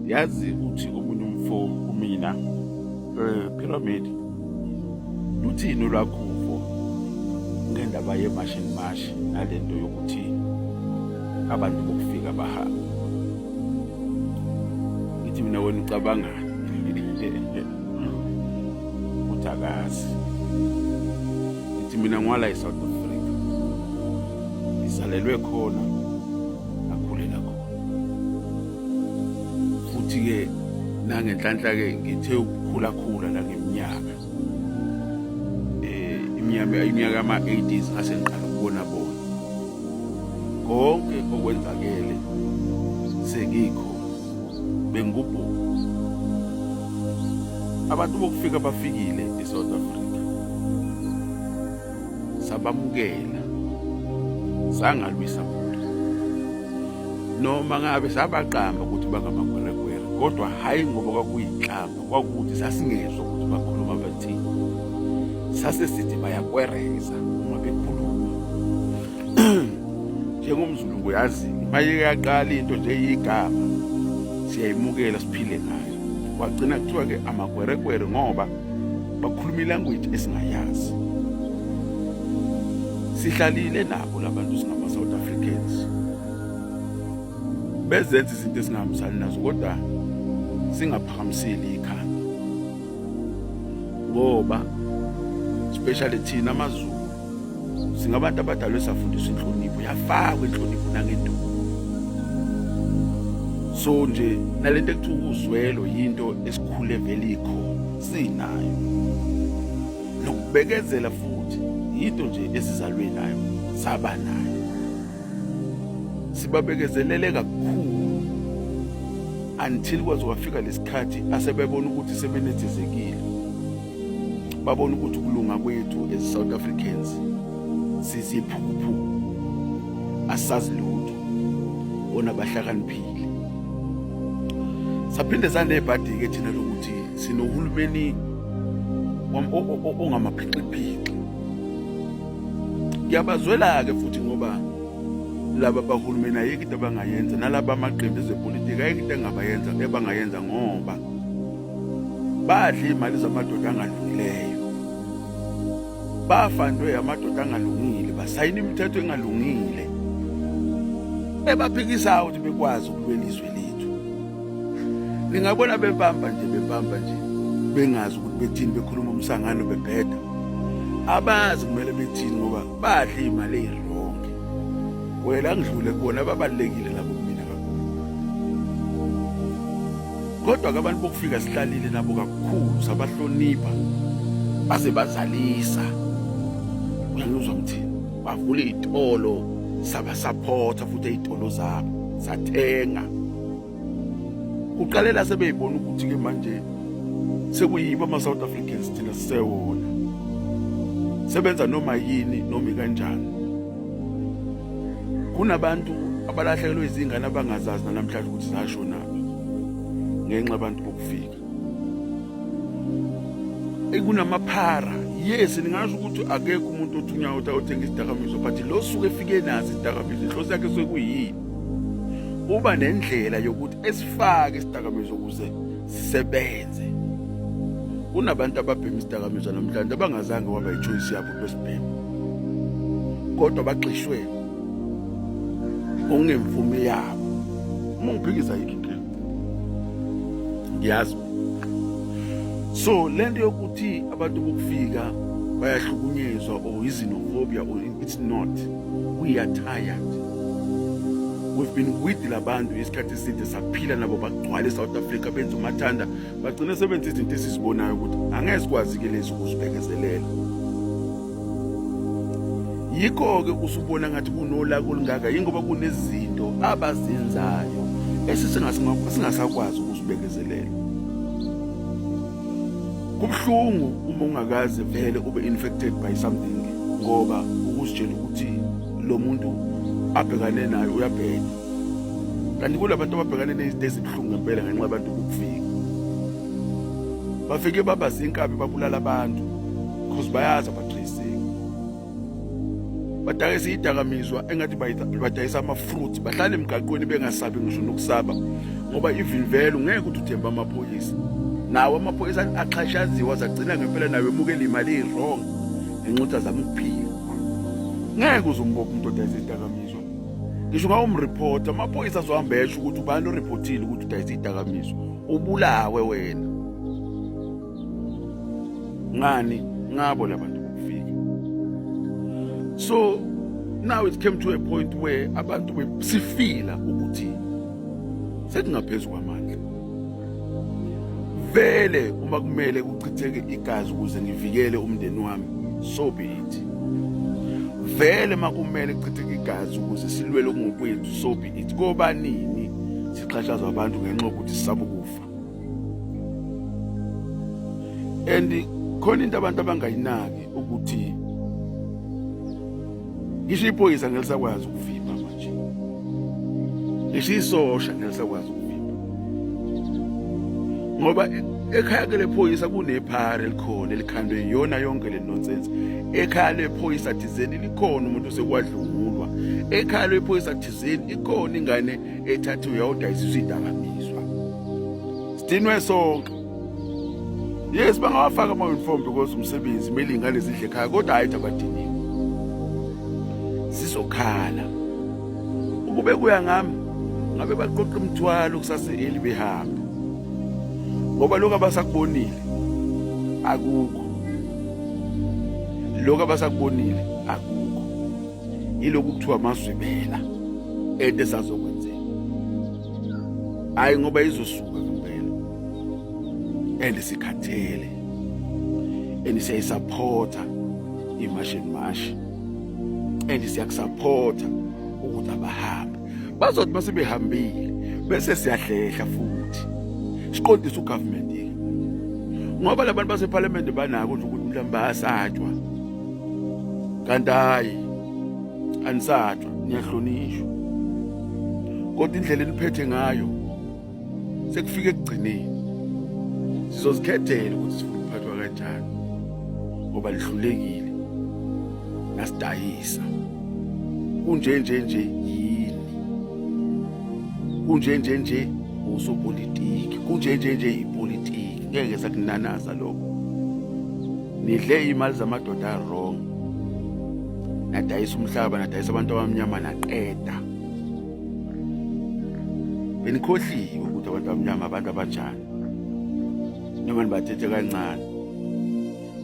yazi uthi omunye umfo kumina eh, pyramid luthini olwakhuvo ngendaba yemashi nemashi nale nto yokuthi abantu bokufika bahamba ngithi mina wena ucabangani ukuthi akazi ngithi mina ngwala e-south africa ngizalelwe khona akhulela khona futhi-ke nangenhlanhla-ke ngithe ukukhulakhula la ngeminyaka um iminyaka iminyaka ama-80s ngase ngiqala ukubona bona konke okwenzakele sengikho bengikubhungu abantu bokufika bafikile e-south africa sabamukela sangalwisa muntu noma ngabe sabaqamba ukuthi bangamagweregwere kodwa hhayi ngoba kwakuyinhlamba kwakukuthi sasingezwa ukuthi bakhuluma bathini sase sithi bayakwereza uma bekhuluma njengomzulu kuyazini uma yeyaqala into nje yigama siyayimukela siphile ngayo kwagcina kuthiwa-ke amagweregwere ngoba bakhuluma ilanguage esingayazi sihlalile nabo labantu singama South Africans bezenza izinto esingahambisani nazo kodwa singaphakamiseli ikhanda ngoba especially thina amaZulu singabantu abadalwe safundiswa inhlonipho yafakwa inhlonipho nangenduku so nje nalento ekuthiwa ukuzwelo yinto esikhule vele ikhona sinayo nokubekezela futhi yinto nje esizalwe nayo saba nayo sibabekezelele kakhulu until kwaze kwafika lesikhathi asebebona ukuthi sebenethezekile babona ukuthi ukulunga kwethu as South Africans siziphuphu asazi lutho bona bahlakaniphile saphinde sanebhadi ke thina lokuthi sinohulumeni ongamaphixiphixi ngiyabazwela ke futhi ngoba laba bahulumeni ayikho into abangayenza nalaba amaqembu ezepolitiki ayikho into engabayenza ebangayenza ngoba badla imali zamadoda angalungileyo bafandwe amadoda angalungile basayina imithetho engalungile ebaphikisa ukuthi bekwazi ukulwela izwe lethu ningabona bebamba nje bebamba nje bengazi ukuthi bethini bekhuluma umsangano bebheda abazi kumele bethini ngoba badla imali eyironke wena ngidlule kubona babalekile labo Kodwa ke abantu bokufika sihlalile nabo kakhulu sabahlonipha baze bazalisa. Uyangizwa ukuthi bavule izitolo saba supporta futhi izitolo zabo sathenga. Uqalela sebeyibona ukuthi ke manje sekuyiba ama South Africans thina sisewona. Sebenza noma yini noma kanjani. kunabantu abalahlekelwe izingane abangazazi namhlanje ukuthi zashonaphi ngenxa abantu bokufika ekunamaphara yes ningasho ukuthi akekho umuntu othunywa ukuthi ayothenga isidakamizwa but lo suke efike nazi isidakamizwa inhloso yakhe suke kuyini uba nendlela yokuthi esifake isidakamizwa ukuze sisebenze kunabantu ababhema isidakamizwa namhlanje abangazange waba yichoice yabo lwesibhemu kodwa bagxishwe ngokungemvume yabo uma ngiphikisa yikho inkinga ngiyazi so lento yokuthi abantu bokufika bayahlukunyezwa or izinophobia or it's not we are tired we've been with labantu isikhathi eside saphila nabo bagcwale e-south africa benza umathanda bagcine sebenza izinto esizibonayo ukuthi angeke sikwazi-ke lezi ukuzibekezelela yikho-ke usubona ngathi kunolaka olungaka yingoba kunezinto abazenzayo esisingasakwazi ukuzibekezelela kubuhlungu uma ungakaze vele ube infected by something ngoba ukuzitshela ukuthi lo muntu abhekane nayo uyabheka kanti kulabantu ababhekane nezinto ezibuhlungu ngempela ngenxa abantu ukufika bafike baba zinkabi babulala abantu because bayazi abatracing badayisa idakamizwa engathi badayisa ama-fruit bahlale emgaqweni bengasabi ngisho nokusaba ngoba even vele ungeke ukuthi uthemba amaphoyisa nawo amaphoyisa axhashaziwa zagcina ngempela nayo emukela imali i-wrong ngenxa ukuthi azama ukuphila ngeke uze umbopha umuntu odayisa idakamizwa ngisho ngawumreporter amaphoyisa azohamba esho ukuthi ubani oreportile ukuthi udayisa idakamizwa ubulawe wena ngani ngabo labantu bokufika so now it came to a point where abantu besifila ukuthi sekungaphezulu kwamandla vele uma kumele kuchitheke igazi ukuze ngivikele umndeni wami so be it vele makumele kuchitheke igazi ukuze silwele okungokwethu so be it kobanini sixhashazwa abantu ngenxa yokuthi sisaba ukufa and khona into abantu abangayinaki ukuthi ngisho iphoyisa ngelisakwazi ukuvimba nje ngisho isosha ngelisakwazi ukuvimba ngoba ekhaya ke lephoyisa kunephara elikhona elikhandwe iyona yonke le nonsense ekhaya lephoyisa thizeni likhona umuntu osekwadlungulwa ekhaya lephoyisa thizeni ikhona ingane ethathiwe yawudayisiswa idakamizwa sidinwe sonke yes bangawafaka ama-uniform because umsebenzi kumele iy'ngane zidle ekhaya kodwa hhayi abadiniwe zizokhala ukube kuya ngami ngabe baqoqa umthwalo kusase-eli behambe ngoba lokhu abasakubonile akukho lokhu abasakubonile akukho yilokhu kuthiwa amazwibela ente sazokwenzeka hayi ngoba izosuka ngempela and sikhathele and siyayisapotha imashi and mashi and siyakusapotha ukuthi abahambe bazothi uma sebehambile bese siyahlehla futhi siqondisa ugovernment ngoba labantu basephalamende banako nje ukuthi mhlawumbe bayasatshwa kanti hayi anisatshwa niyahlonishwa kodwa indlela eniphethe ngayo sekufike ekugcineni sizozikhethela ukuthi sifuna ukuphathwa kanjani ngoba lihlulekile nasidayisa kunje nje nje yini kunje nje nje usopolitiki kunje nje nje ipolitiki ngeke sakunanaza lokho nidle iy'mali zamadoda wrong nadayisa umhlaba nadayisa abantu abamnyama naqeda benikhohliwe ukuthi abantu abamnyama abantu abanjani noma nibathethe kancane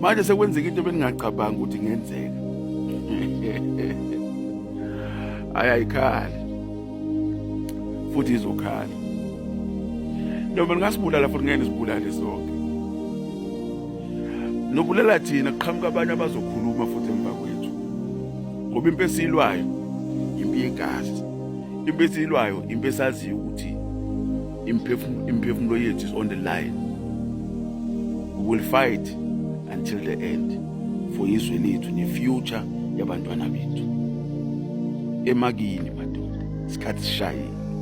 manje sekwenzeka into beningaqabanga ukuthi ngenzeka ayayikhali futhi izokhala noma ningasibulala futhi ngeke nisibulale sonke Nokubulala thina kuqhamuka abanye abazokhuluma futhi emva kwethu. Ngoba impi esilwayo impi yegazi. Impi esilwayo impi esaziyo ukuthi imphefumulo imphefumulo yethu is on the line. We will fight until the end for izwe lethu ne future yabantwana bethu. Emakini madoda isikhathi sishayile.